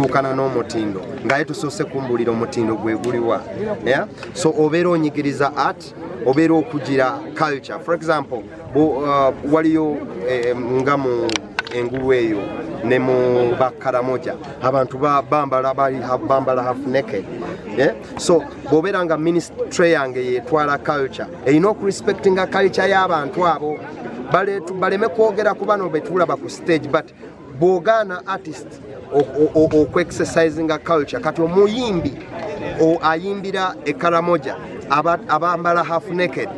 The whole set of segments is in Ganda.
tuukana n'omutindo ngaye tusoose kumbulira omutindo gwe guliwa yeah? so obeera onyigiriza art obeera okugira culture for example bu, uh, waliyo eh, nga mu engulu eyo ne mu bakaramoja abantu bambala bali bambala half naked yeah? so bwobeera nga ministry yange yetwala culture erina okurespectinga culture y'abantu abo baleme kwogera ku bano betulaba ku stage but bwogaana artist okuexercisinga culture kati omuyimbi ayimbira ekaramoja abambala half naked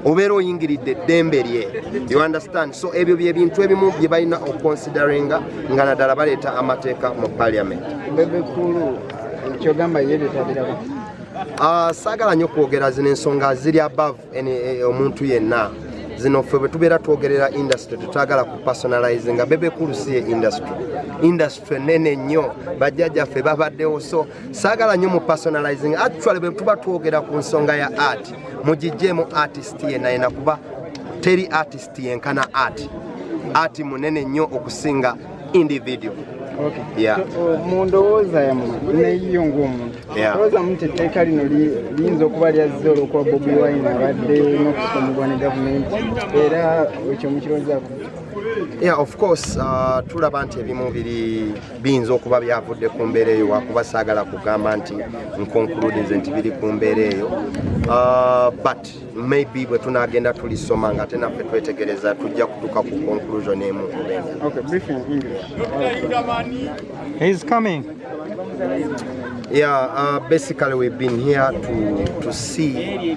obeera oyingiridde eddembe lye you understand so ebyo byebintu ebimu bye balina oconsideringa nga naddala baleeta amateeka mu parliament ah, saagala nyo okwogera zino ensonga ziri above Eh, omuntu yenna zino ffe bwe tubeera twogerera industry tetwagala ku personalize nga bebekulu si ye industry industry nene nnyo bajjajaffe babaddewo so saagala nnyo mu personalizing actually bwe tuba twogera ku nsonga ya art mugijjeemu artist yenna yena kuba teri artist yenkana art art munene nnyo okusinga individual okay. yeah. so, mu ndowooza yammwe neyiyo ng'omuntu olowooza mu nti etteeka lino liyinza okuba lyazze olwokuba bobi wine abadde n'okusomebwa ne gavumenti era ekyo mukirowoozaako yeah of course uh, tulaba nti ebimu biri biyinza okuba byavudde ku mbeera eyo wakuba saagala kugamba nti nkonkulude nze nti biri ku mbeera eyo uh, but maybe bwe tunaagenda tulisoma nga ate naffe twetegereza tujja kutuuka ku conclusion emu Yeah, uh, basically we've been here to, to see